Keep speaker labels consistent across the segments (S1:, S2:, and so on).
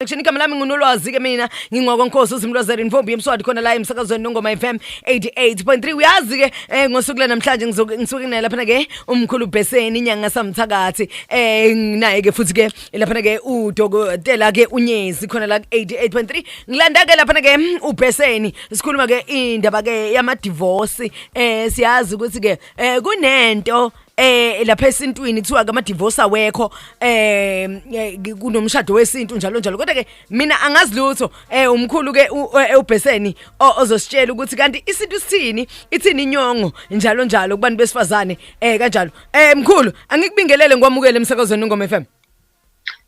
S1: Action igama lami ngunolwazi ke mina ngingwakwa Nkosi uZimlozela invombi yemswadi khona la emsakazweni nongoma FM 88.3 uyazi ke eh ngosuku lanamhlanje ngisuke nginaye lapha ke umkhulu Bheseni inyanga samthakathi eh nginaye ke futhi ke laphana ke udokotela ke unyezi khona la 88.3 ngilanda ke laphana ke mm, ubheseni sikhuluma ke indaba ke yama divorce eh siyazi ukuthi ke eh kunento eh lapha esintwini kuthiwa ke ama divorce awekho eh, eh kunomshado wesintu njalo njalo kodwa ke mina angazi lutho eh umkhulu ke eh, ubheseni ozositshela ukuthi kanti isintu sithini ithini inyongo njalo njalo kubantu besifazane eh kanjalo Eh mkhulu, angikubingelele ngikwamukele emsakazweni uNgoma FM.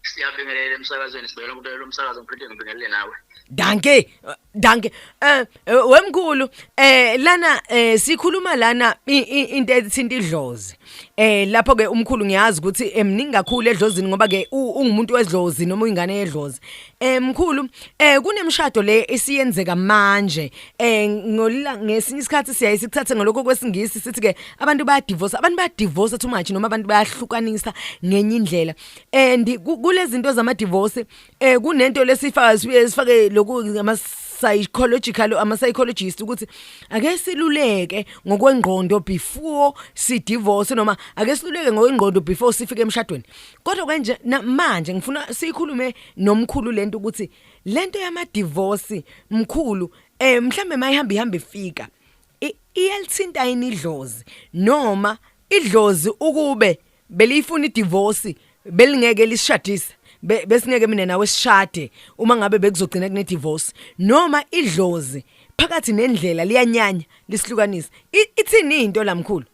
S1: Siyabingelela
S2: emsakazweni sibhekela ukubekela umsakazo ngiphethe ngibingelele nawe. Danke,
S1: danke. Eh wemkhulu, eh lana eh sikhuluma lana into ethinta idlozi. Eh lapho ke umkhulu ngiyazi ukuthi emningi kakhulu edlozini ngoba ke ungumuntu wedlozi noma ingane yedlozi. Eh mkhulu eh kunemshado le esiyenzeka manje eh ngolila ngesinye isikhathi siyaye sikuthathe ngalokho kwesingisi sithi ke abantu baya divorce abantu baya divorce too much noma abantu bayahlukanisa ngenye indlela and kulezi zinto zama divorce eh kunento lesifaka sibuye sifake lokhu ngama psychological ama psychologist ukuthi ake siluleke ngokwengqondo before si divorce noma ake siluleke ngokwengqondo before sifike emshadweni kodwa kanje na- manje ngifuna siyikhulume nomkhulu lento ukuthi lento yama divorce mkhulu eh mhlambe mayihamba ihamba ifika i- iyalithinta yini idlozi noma idlozi ukube beliyifuna idivorce belingeke lisishadise be- besingeke mina nawe sishade uma ngabe bekuzogcina kune divorce noma idlozi phakathi nendlela liyanyanya lisihlukanisa I- ithini into la mkhulu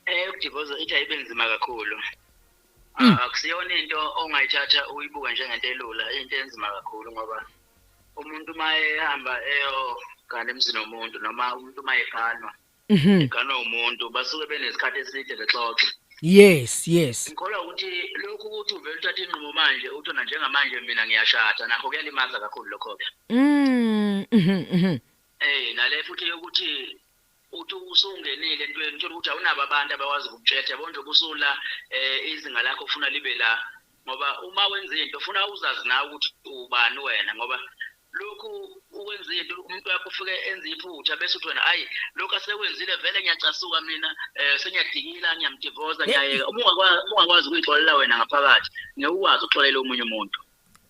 S2: eyokudivozwa eh, eh, ithi ayibe nzima kakhulu hmm. ah, akusiyona into ongayithatha uyibuke njengento elula into enzima kakhulu ngoba umuntu uma ehamba eyogana emzini womuntu noma umuntu uma eganwa mhm. eganwa umuntu basuke benesikhathi eside bexoxa yes yes
S1: ngikholwa ukuthi
S2: lokhu ukuthi uvele uthathe inqumo manje uthi na njengamanje mina ngiyashada nakho kuyalimaza kakhulu lokho-ke mm, mhm, mhm. eh nale futhi yokuthi uthi usungenile entweni uthola ukuthi awunabo abantu abakwazi ukukutshetha yabo nje ubusula um eh, izinga lakho ufuna libe la ngoba uma wenza into ufuna uzazi nawe ukuthi ubani wena ngoba lokhu ukwenza into umuntu wakho ufike enze iphutha bese uthi wena ayi lokhu asekwenzile vele ngiyacasuka mina um sengiyadikila ngiyamdivoza ngiyayeka uma ungakwazi ukuyixolela wena ngaphakathi ngeke ukwazi ukuxolela omunye umuntu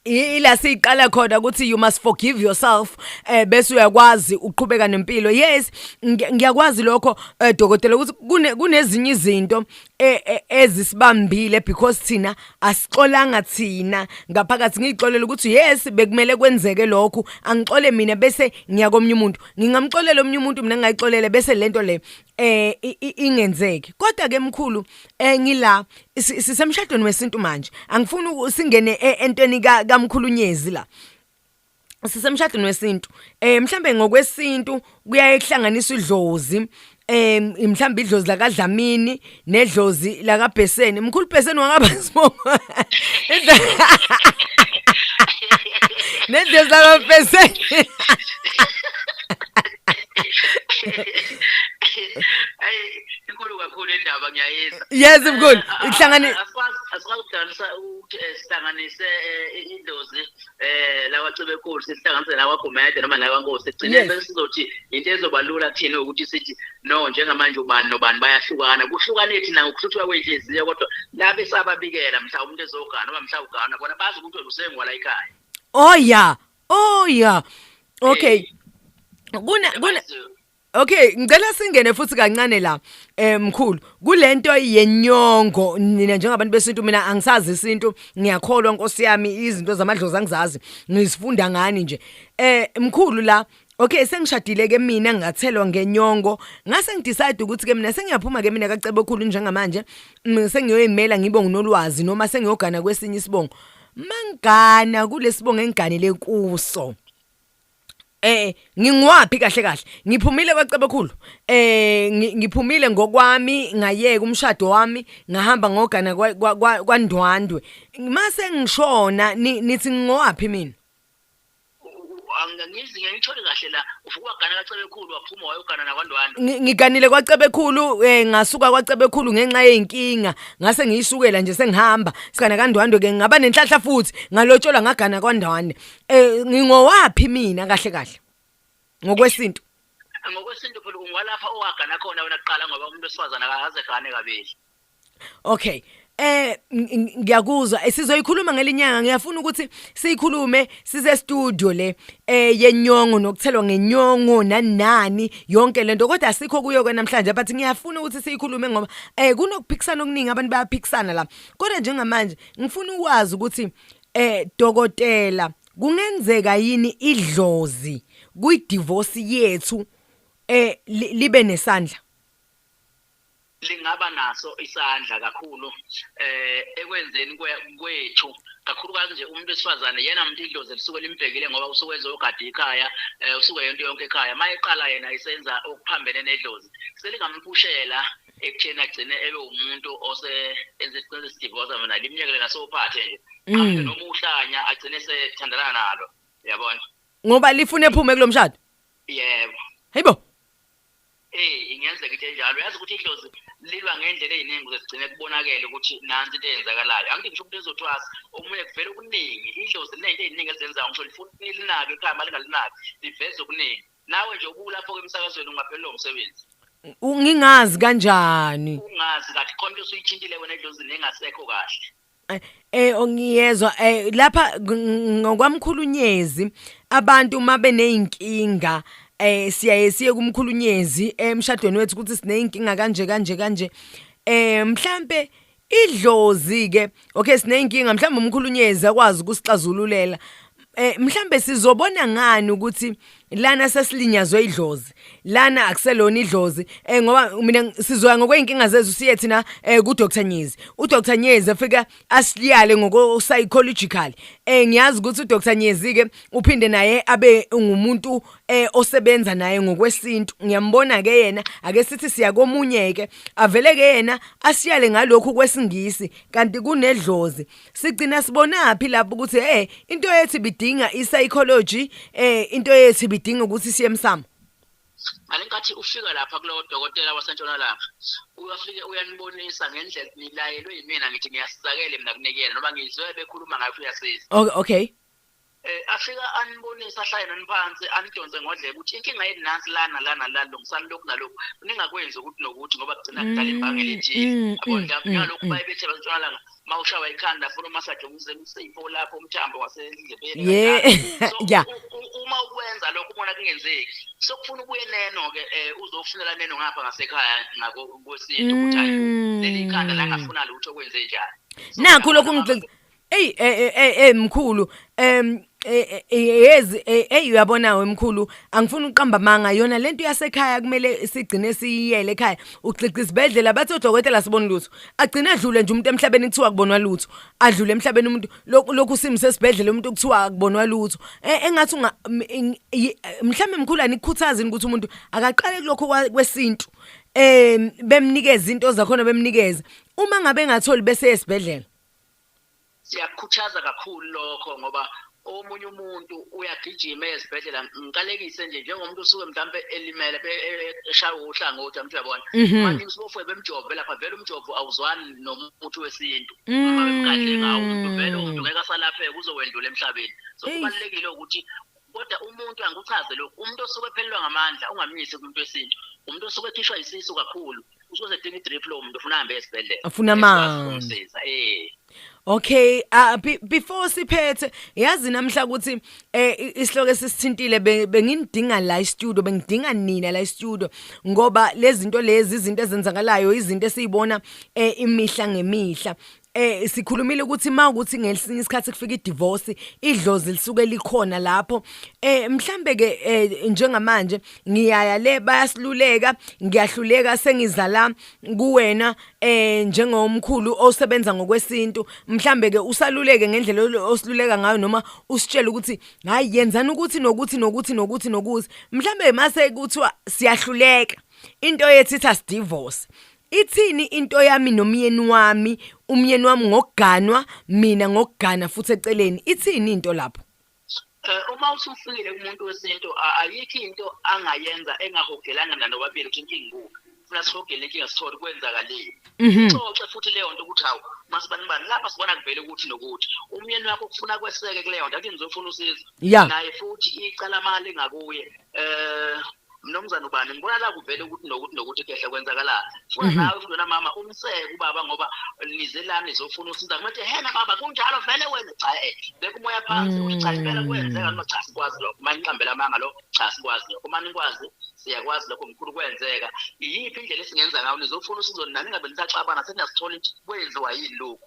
S2: ila
S1: siyiqala khona ukuthi you must forgive yourself eh bese uyakwazi uqhubeka nempilo yes ngiyakwazi lokho eh, dokotela ukuthi kune kunezinye izinto e, e, ezisibambile because thina asixolanga thina ngaphakathi ngixolela ukuthi yes bekumele kwenzeke lokho angixole mina bese ngiyakomnye umuntu ngingamxolela omnye umuntu mina ngayixolele bese lento le eh ingenzeki kodwa ke mkhulu eh ngila sisemshadweni wesintu manje angifuni usingene e, entweni kamkhulunyezi la sisemshadweni wesintu eh mhlambe ngokwesintu kuyaye kuhlanganisa idlozi eh mhlambe idlozi lakadlamini nedlozi lakabheseni mkhulu bheseni wangaba sibongo nedlozi lakabheseni
S2: ayi inkulu kakhulu indaba ngiyayizwa yes mkhulu ihlangane asikwazi
S1: ukuhlanganisa ukuthi eh,
S2: sihlanganise eh, idlozi eh lawa cebekulu sihlanganise lawa gumede noma lawa nkosi ekugcineni bese sizothi into ezoba lula kuthina ukuthi sithi no njengamanje ubani nobani bayahlukana kuhlukane thina ngokuhluthuka kwenhliziyo kodwa labe sababikela mhlawumbe umuntu ezogana noma mhlawumbe ugana bona bazi ukuthi wena usengwala ekhaya oh ya
S1: oh ya okay kuna kuna Okay, ngicela singene futhi kancane la. Eh mkhulu, kulento yenyongo nina njengabantu besintu mina angisazi isintu, ngiyakholwa Nkosi yami izinto zamadlozi angizazi, ngizifunda ngani nje. Eh mkhulu la Okay sengishadile ke mina ngathelwa ngenyongo ngase ngidecide ukuthi ke mina sengiyaphuma ke mina kacebo khulu njengamanje mm, sengiyoyimela ngibe nginolwazi noma sengiyogana kwesinye isibongo mangana kulesibongo engiganele kuso eh ngingiwaphi kahle kahle ngiphumile kwacebekhulu eh ngiphumile ngokwami ngayeka umshado wami ngahamba ngogana kwandwandwe mase ngishona nithi ngingowaphi mina angizi ngiyithole
S2: kahle la uvuka wagana kwacebekhulu waphuma wayogana nakwandwandwe ngiganile kwacebekhulu
S1: eh ngasuka kwacebekhulu ngenxa yeinkinga ngase ngiyisukela nje sengihamba sigana kandwandwe ke ngaba nenhlahla futhi ngalotshola ngagana kwandwandwe Eh ngingowaphi mina kahle kahle? Ngokwesintu. Ngokwesintu
S2: phela ungwalapha owagana khona wena kuqala ngoba umuntu osifazana akaze gane kabili. Okay.
S1: Eh ngiyakuzwa eh, sizoyikhuluma ngelinyanga ngiyafuna ukuthi siyikhulume size studio le eh yenyongo nokuthelwa ngenyongo nanani yonke lento kodwa asikho kuyo ke namhlanje but ngiyafuna ukuthi siyikhulume ngoba eh kunokuphikisana okuningi abantu bayaphikisana la kodwa njengamanje ngifuna ukwazi ukuthi Eh dokotela kungenzeka yini idlozi kwi divorce yethu eh li- libe nesandla lingaba
S2: naso isandla kakhulu eh ekwenzeni kwe- kwethu kakhulukazi nje umuntu wesifazane yena muntu idlozi lisuke limbhekile ngoba usuke ezogada ikhaya eh usuke yonke yonke ekhaya mayeqala yena isenza okuphambene nedlozi selingamphushela ekutheni agcine ebe umuntu ose enze isinqumo esidivosa mina limnyekele nasophathe nje mm. noma uhlanya agcine sethandana nalo yabona ngoba lifuna
S1: ephume kulomshado yebo
S2: hayibo
S1: eh
S2: ingenzeka into enjalo uyazi ukuthi idlozi lilwa ngendlela eziningi ukuze sigcine kubonakele ukuthi nansi into eyenzakalayo angithi ngisho umuntu ezothwasa omunye kuvela okuningi idlozi linento eziningi ezenzayo ngisho lifuna ilinake ekhaya malingalinaki liveza okuningi nawe nje ubulapho ke emsakazweni ungaphelelwa umsebenzi ngingazi
S1: kanjani ungazi kathi khona
S2: into usuyithintile wena edlozini engasekho kahle eh, eh ongiyezwa
S1: eh lapha ngokwamkhulunyezi abantu uma beneyinkinga eh siyaye siye kumkhulunyezi emshadweni wethu ukuthi sinezinkinga kanje kanje kanje eh mhlambe idlozi ke okay sineyinkinga mhlawumbe umkhulunyezi akwazi ukusixazululela eh mhlambe sizobona ngani ukuthi lana sesilinyazwe idlozi lana akuselona idlozi eh ngoba mina sizoya ngokweinkinga zezu siye thina eh ku Dr Nyezi u Dr Nyezi afika asiliyale ngoko psychological eh ngiyazi ukuthi u Dr Nyezi ke uphinde naye abe ngumuntu eh osebenza naye ngokwesintu ngiyambona ke yena ake sithi siya komunye ke avele ke yena asiyale ngalokhu kwesingisi kanti kunedlozi sigcina sibonaphi lapho ukuthi eh into yethi bidinga i-psychology eh into yethi bidinga ukuthi siye emsamo ngalenkathi
S2: ufika lapha kulowo dokotela wasentshonalanga uyafike uyanibonisa ngendlela nilayelwe yimina ngithi ngiyasizakele mina kunekuyena noma ngizwe bekhuluma ngayo uyasiza okay
S1: eh afika
S2: anibonisa ahlale naniphansi anidonse ngodlebe ukuthi inkinga yethu nansi lana lana la lungisani lokhu nalokhu ningakwenzi ukuthi nokuthi ngoba kugcina kudala imbangela mm, ethile mm, yabo mm, ndaba ngalokhu baye bethe bantshonalanga uma ushawa ikhanda funa umasaje umsifo lapho umthambo wasendlebeni ya
S1: uma
S2: ukwenza lokho ubona kungenzeki sokufuna ubuye neno ke eh, uzofunela neno ngapha ngasekhaya ngako kwesintu ukuthi hayi leli khanda la ngafuna lutho kwenze njani nakho lokhu
S1: Ey ey ey mkhulu em yezi ey uyabona wemkhulu angifuni uqamba manga yona lento yasekhaya kumele sigcine siyiyele ekhaya ugcigca isibedlela bathi odokotela sibona lutho agcine adlule nje umuntu emhlabeni kuthiwa kubonwa lutho adlule emhlabeni umuntu lokhu simo sesibedlela umuntu kuthiwa kubonwa lutho e, engathi unga mhlambe mkhulu anikhuthazini ukuthi umuntu akaqale kulokho kwesintu em bemnikeza into zakhona bemnikeza uma ngabe engatholi bese esibedlela
S2: siyakukhuthaza kakhulu lokho ngoba omunye umuntu uyagijima ezibhedlela ngiqalekise nje njengomuntu usuke mhlawumbe elimele eshaye uhlangothi amuntu uyabona mhm. manje usibofwe bemjove lapha vele umjovo awuzwani nomuthi wesintu uma bemgadle ngawo umuntu vele umuntu mm. ngeke asalapheke uzowendlula emhlabeni so kubalulekile ukuthi kodwa umuntu angikuchaze lokhu umuntu osuke ephelelwa ngamandla ungamnyisi kumuntu wesintu umuntu osuke ekhishwa isisu kakhulu usuke sedinga idrip lo muntu ufuna hambe esibhedlela Afuna amanzi.
S1: eh Okay, uh, be, before siphethe yazi namhla ukuthi eh i- isihloko esisithintile be- bengindinga la studio bengidinga nina la studio ngoba lezi zinto lezi izinto ezenzakalayo izinto esizibona eh imihla ngemihla eh sikhulumile ukuthi mawukuthi ngesinye isikhathi kufika idivorce idlozi lisuke likhona lapho eh mhlambe ke eh, njengamanje ngiyaya le bayasiluleka ngiyahluleka sengizala kuwena eh njengomkhulu osebenza ngokwesintu mhlambe ke usaluleke ngendlela osiluleka ngayo noma usitshela ukuthi hayi yenzani ukuthi nokuthi nokuthi nokuthi nokuthi mhlambe mase kuthiwa siyahluleka into yethi itha divorce Ithini into yami nomyeni wami, umyeni wami ngokuganwa, mina ngokugana futhi eceleni. Ithini into lapho? Eh,
S2: uma usufikile kumuntu wesintu a- ayikho into angayenza engahogelanga nanobabili ukuthi inkinga ikuphi funa sihogele inkinga sithole kwenzakalile Mhm. xoxe futhi leyo nto ukuthi hawu masibani bani lapha sibona kuvele ukuthi nokuthi umyeni wakho kufuna kweseke kuleyo nto athi ngizofuna usizo Ya. naye futhi icala mali ngakuye um mnomzana ubani ngibona la kuvele ukuthi nokuthi nokuthi kehla kwenzakala funa mhm. nawe funa mama umseke ubaba ngoba nize la nizofuna usiza kumathi hena baba kunjalo vele wena cha eh beka umoya phansi uthi cha impela mm. kwenzeka noma cha sikwazi lokho manje ngiqambela amanga lo cha sikwazi lokho manje nikwazi siyakwazi lokho mkhulu kwenzeka iyiphi indlela esingenza ngayo nizofuna usizo nani ngabe nisaxabana seniyasithola ukuthi kwenziwa yini lokho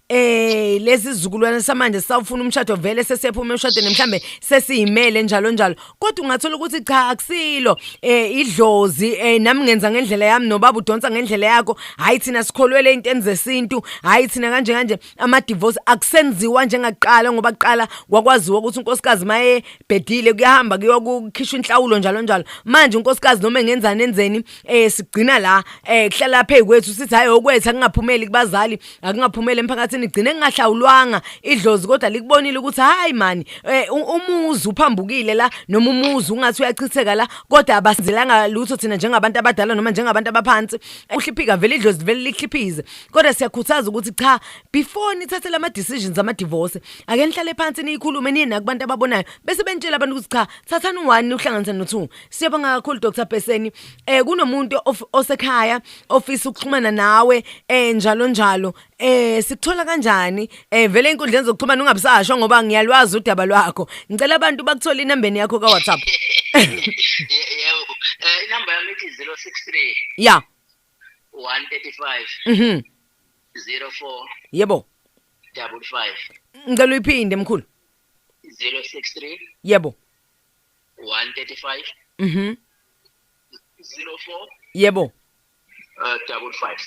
S1: Ey lezi zizukulwane samanje sawufuna umshado vele sesephume emshadweni mhlambe sesiyimele njalo njalo kodwa ungathola ukuthi cha akusilo eh idlozi eh nami ngenza ngendlela yami nobaba udonsa ngendlela yakho hayi thina sikholwele intweni zesintu hayi thina kanje kanje ama divorce akusenziwa njengakuqala ngoba kuqala kwakwaziwa ukuthi unkosikazi maye bhedile kuyahamba kuyokukhishwa inhlawulo njalo njalo manje unkosikazi noma engenzani enzeni eh sigcina la eh kuhlala phezu kwethu sithi hayi okwethu akungaphumeli kubazali akungaphumeli emphakathini igcine kungahlawulwanga idlozi kodwa likubonile ukuthi hayi mani eh, u- umuzi uphambukile la noma umuzi ungathi uyachitheka la kodwa abasizelanga lutho thina njengabantu abadala noma njengabantu abaphansi uhliphika vele idlozi livele lihliphize kodwa siyakhuthaza ukuthi cha before nithathe lama decisions ama divorce ake nihlale phansi niyikhulume niye nakubantu ababonayo bese benitshela abantu ukuthi cha thathani u1 uhlanganise no2 Siyabonga kakhulu Dr Beseni. Eh kunomuntu osekhaya ofisa ukuxhumana nawe eh njalo njalo. Eh sikuthola kanjani? Eh vele inkundleni zokuxhumana ungabusasho ngoba ngiyalwazi udaba lwakho. Ngicela abantu bakuthola inamba yakho ka WhatsApp. Yebo.
S2: Eh inamba yami ithi 063.
S1: Yeah.
S2: 135. Mhm. 04. Yebo. 55. Ngicela
S1: uyiphinde mkhulu. 063.
S2: Yebo. 135 mhm 04
S1: yebo uh,
S2: double 5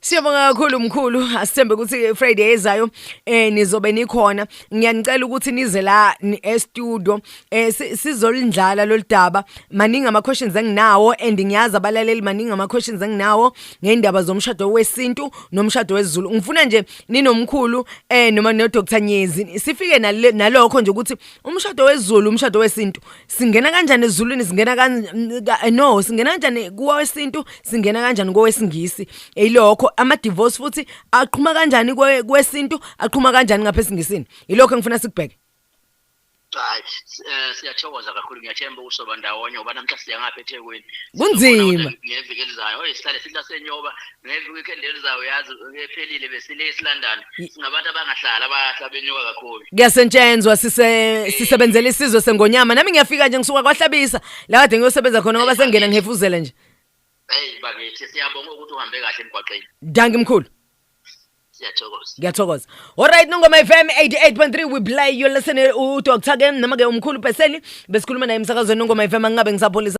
S2: Siyabonga
S1: kakhulu mkhulu asithembe ukuthi Friday ezayo eh nizobe nikhona ngiyanicela ukuthi nize la e studio eh sizolindlala lolidaba maningi ama questions enginawo and ngiyazi abalaleli maningi ama questions enginawo ngeindaba zomshado wesintu nomshado wezulu ngifuna nje ninomkhulu eh noma no Dr Nyezi sifike nalokho nje ukuthi umshado wezulu umshado wesintu singena kanjani ezulwini singena kanjani eh, no singena kanjani kowesintu singena kanjani kowesingisi ilokho ama divorce futhi aqhuma kanjani kwesintu aqhuma kanjani ngapha esingisini ilokho engifuna sikubheke hayi
S2: eh, siyathokoza kakhulu ngiyathemba ukusoba ndawonye ngoba namhla siya ngapha eThekwini kunzima
S1: ngeviki elizayo
S2: oyi sihlale sihlasenyoba next weekend elizayo yazi ephelile besile esilondon singabantu abangahlali abahla benyuka kakhulu kuyasentshenzwa sise
S1: sisebenzela isizwe sengonyama nami ngiyafika nje ngisuka kwahlabisa la kade ngiyosebenza khona ngoba sengena ngihefuzela nje hey
S2: bakithi siyabonga ukuthi uhambe kahle emgwaqeni danki mkhulu
S1: siyathokoza ngiyathokoza
S3: alright nongoma fm
S1: 88.3 we play you listen udr ken noma-ke umkhulu peseni besikhuluma naye emsakazweni nongoma fm angingabe ngisapholisa